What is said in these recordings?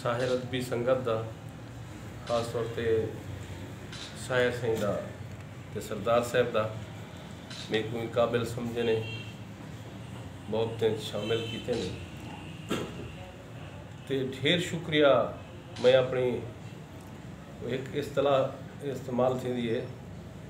ساحر ادبی سنگت دا خاص طور تے ساحر سائیں دا تے سردار صاحب دا میکوں ہی قابل سمجھے نے محبتیں شامل کیتے نے تے ڈھیر شکریہ میں اپنی ایک اصطلاح استعمال تھی دی ہے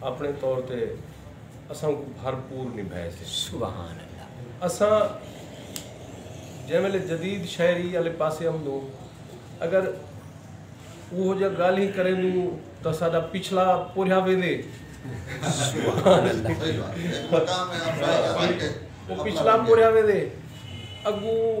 اپݨے طور تے اساں کوں بھرپور نبھائے سے۔ سبحان اللہ۔ اساں جیں ویلے جدید شاعری آلے پاسے امدوں اگر اوہو جیہاں گالھیں کریندوں تاں ساڈا پچھلا پورھیا ویندے۔ سبحان اللہ۔ پچھلا پورھیا ویندے اگوں۔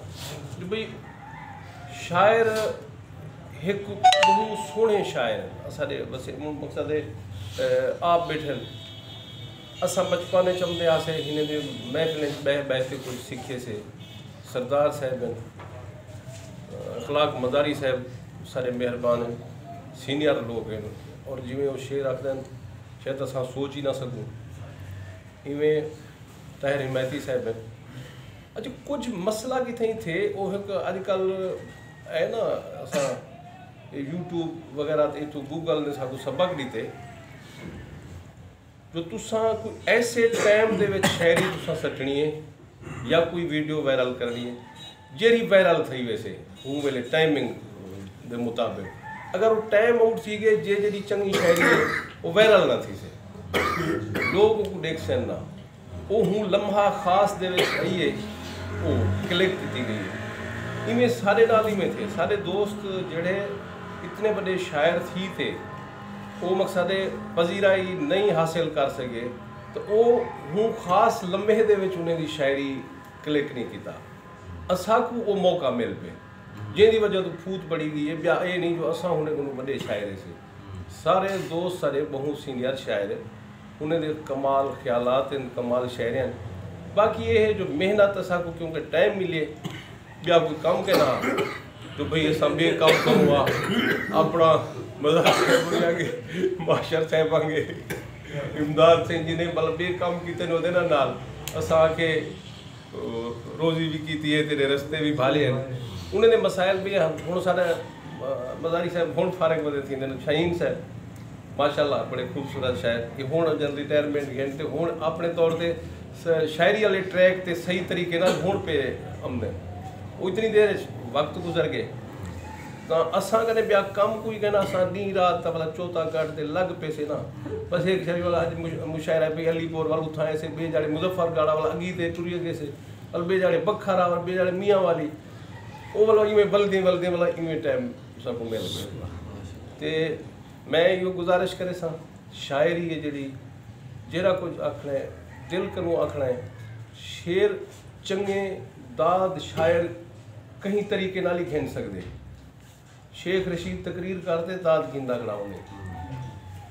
جو بھئی شاعر ہک بہت سونے شاعر اساڈے وسیم مون مقصد ہے آپ بیٹھے اسا بچپن وچ چمدے آسے ہنے دے محفل وچ بیٹھ بیٹھ کے کچھ سیکھے سے سردار صاحب اخلاق مزاری صاحب سارے مہربان ہیں سینئر لوگ ہیں اور جویں وہ شعر آکھدن شاید اسا سوچ ہی نہ سکوں ایویں طاہر حمایتی صاحب ہیں اچھا کچھ مسئلہ کتھے ہی تھے وہ ایک اج کل اے نا اسا یوٹیوب وغیرہ تے تو گوگل نے ساکو سبق دیتے جو تساں کوئی ایسے ٹائم دے وچ شاعری تساں سٹنی ہے یا کوئی ویڈیو وائرل کرنی ہے جیرھی وائرل تھئی ویسے اوں ویلے ٹائمنگ دے مطابق اگر او ٹائم آؤٹ تھی گئے جے جیڑھی چنگی شاعری ہے او وائرل نہ تھیسے لوگ اوکوں ڈیکھسن نہ او ہوں لمحہ خاص دے وچ ہئی ہے او کلک کیتی گئی ہے ایویں ساڈے نال ایویں تھے ساڈے دوست جیڑھے اتنے وڈے شاعر تھی تے او مقصد پذیرائی نئیں حاصل کر سگے تاں او ہوں خاص لمحے دے وچ انہیں دی شاعری کلک نی کیتا اساکوں او موقع مل پئے جیندی وجہ توں پھوت پڑی گئی اے بیا اے نی جو اساں ہنے کنوں وڈے شاعر ہیسے سارے دوست ساڈے بہوں سینئر شاعر ہنے دے کمال خیالات ہن کمال شاعر ہن باقی اے ہے جو محنت اساکوں کیونکہ ٹائم ملے بیا کوئی کم کے نہ ہا تو بھئی اساں بے کم کوں وا اپنا مزاق کربویاں گے معاشر صاحب آنگے امداد سین جی نے بل بے کم کیتے نے دینا نال اساں کے روزی بھی کیتی ہے تیرے رستے بھی بھالے ہیں انہیں نے مسائل بھی ہیں ہن سارے مزاری صاحب ہن فارغ وزے تھی نے شاہین صاحب ماشاءاللہ بڑے خوبصورت شاید کہ ہن جن ریٹائرمنٹ گھنٹے ہن اپنے طور تے شاعری آلے ٹریک تے صحیح طریقے نال ہنڑ پے امدن او اتنی دیر اچ وقت گزر گئے تاں اساں کنے بیا کم کوئی کہنا اساں ڈینہ رات دا بھلا چوتھا گھٹ تے لگ پیسے نا بس ہیک شاعری والا اج مشاعرہ پے علی پور ول اتھاں ایسے بے جاڑے مظفر گاڑا ول اگی تے ٹری اگے سے ول بے جاڑے بکھرا ول بے جاڑے میاں والی او ول ایویں ولدیں ولدیں ول ایویں ٹائم اساں کو مل گئے تے میں ایو گزارش کریساں شاعری ہے جیڑھی جیرھا کجھ آکھنڑے دل کنوں آکھنڑا ہے۔ شعر چنگے داد شاعر کہیں طریقے نال ہی گھن سگدے۔ شیخ رشید تقریر کر تے داد گھندا کھڑا ہوندے۔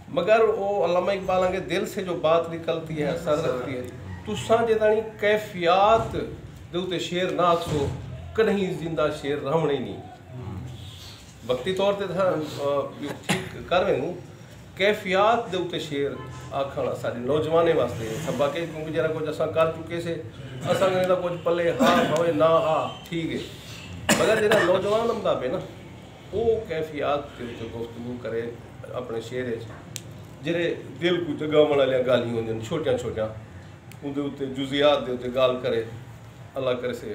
مگر او علامہ اقبال آنگے دل سے جو بات نکلتی ہے اثر رکھتی ہے۔ تساں جداڑی کیفیات دے اتے شعر نہ آکھسو کڈہیں زندہ شعر رہونڑیں نی۔ وقتی طور تے تاں ٹھیک کر ویندوں، کیفیات دے اتے شعر آکھݨ اساݙے نوجوانیں واسطے سبق ہے کیونکہ جیرھا کجھ اساں کر چکے سے اساں کوں ایندا کجھ پلے ہا بھاویں نہ ہا ٹھیک ہے مگر جیرھا نوجوان امدا پئے نا او کیفیات دے اتے گفتگو کرے اپݨے شعر اچ جیرھے دل کوں جڳاوݨ آلیاں ڳالھیں ہوندین چھوٹیاں چھوٹیاں اوندے اتے جزیات دے اتے ڳالھ کرے اللہ کرسے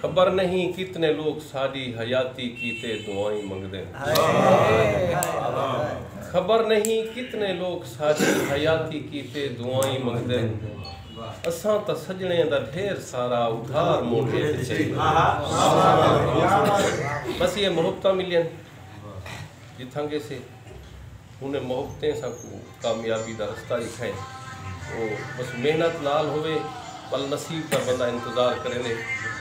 خبر نہیں کتنے لوگ ساڈی حیاتی کیتے دعائیں منگدے خبر نہیں کتنے لوگ ساڈی حیاتی کیتے دعائیں منگدے اساں تاں سجنے دا ڈھیر سارا ادھار موٹے تے چاہیے بس یہ محبتہ ملین جتھاں گے سے انہیں محبتیں ساکوں کامیابی دا رستہ ݙکھائن او بس محنت نال ہووے ول نصیب دا بندہ انتظار کریندے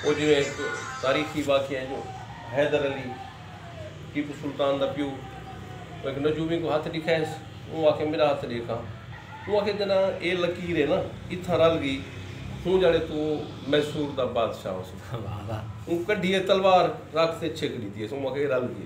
او جیویں ہک تاریخی واقعہ ہے جو حیدر علی ٹیپو سلطان دا پیو او ہک نجومی کوں ہتھ ݙکھائس اوں آکھے میݙا ہتھ ݙیکھ ہا اوں آکھے جݙاں اے لکیر ہے نا اتھاں رل ڳی ہوں جاݨے توں میسور دا بادشاہ ہوسیں اوں کڈھیے تلوار رکھ تے چھک ݙتی ہس اوں آکھے اے رل ڳی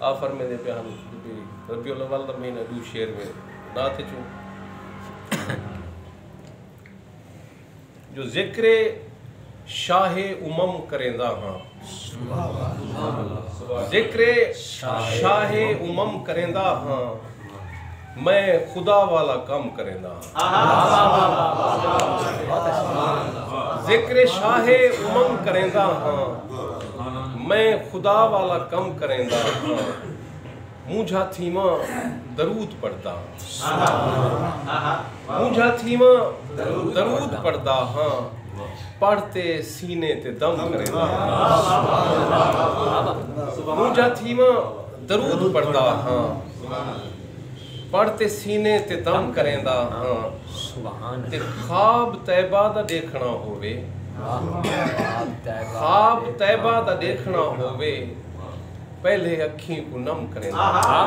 آ فرمیندے پئے ہن جو بھئی ربیع الاول دا مہینہ ݙو شعر میں نعت اچوں جو ذکر شاہ امم کریندا ہاں ذکر شاہ امم کریندا ہاں میں خدا والا کم کریندا ہاں۔ ذکر شاہ امم کریندا ہاں۔ میں خدا والا کم کریندا ہاں۔ مونجھا تھیواں درود پڑھدا ہاں۔ مونجھا تھیواں درود پڑھدا ہاں۔ پڑھ تے سینے تے دم کریندا ہاں۔ مونجھا تھیواں درود پڑھدا ہاں۔ پڑھ تے سینے تے دم کریندا ہاں تے خواب طیبہ دا ڈیکھنڑاں ہووے خواب طیبہ دا ڈیکھنڑاں ہووے پہلے اکھیں کوں نم کریندا ہاں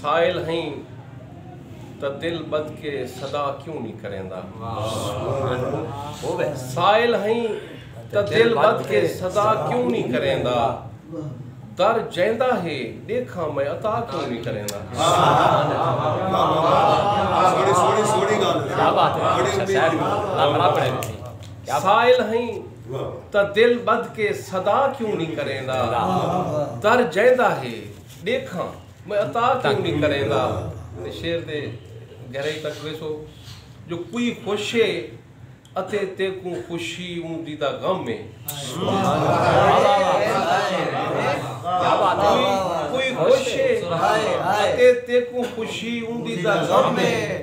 سائل ہئیں تاں دل ٻدھ کے صدا کیوں نی کریندا سائل ہئیں تاں دل ٻدھ کے صدا کیوں نی کریندا در جیندا ہے ݙیکھاں میں عطا کیوں نی کریندا سائل ہئیں تاں دل ٻدھ کے صدا کیوں نی کریندا در جیندا ہے ݙیکھاں میں عطا کیوں نی کریندا تے شیر دے گھرے تک ویسو جو کوئی خوش ہے اتے تیکوں خوشی اوندی دا غم ہے کوئی خوش ہے اتے تیکوں خوشی اوندی دا غم ہے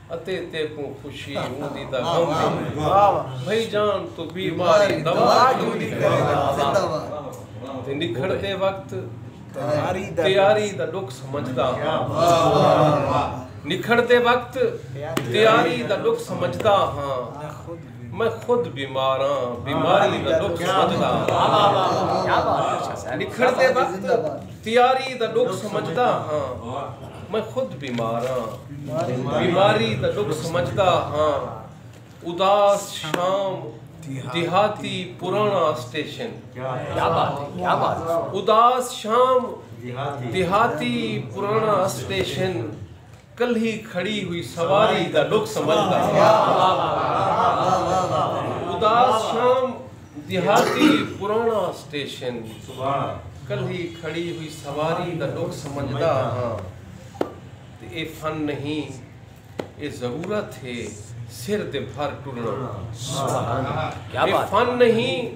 اتے تیکوں خوشی اوندی تاں غم وی نئیں بھئی جان توں بیماری دوا کیوں نی کریں دا تے نکھڑ دے وقت تیاری دا ڈکھ سمجھدا ہاں نکھڑ دے وقت تیاری دا ڈکھ سمجھدا ہاں میں خود بیمار ہاں بیماری دا ڈکھ سمجھدا ہاں لکھن دے وقت تیاری دا ڈکھ سمجھدا ہاں میں خود بیمار ہاں بیماری دا ڈکھ سمجھدا ہاں اداس شام دیہاتی پرانا اسٹیشن اداس شام دیہاتی پرانا اسٹیشن کلھی کھڑی ہوئی سواری دا ڈکھ سمجھدا ہاں۔ اداس شام دیہاتی پراݨا سٹیشن۔ کلھی کھڑی ہوئی سواری دا ڈکھ سمجھدا ہاں۔ تے اے فن نہیں اے ضرورت ہے سر دے بھر ٹرݨا۔ اے فن نہیں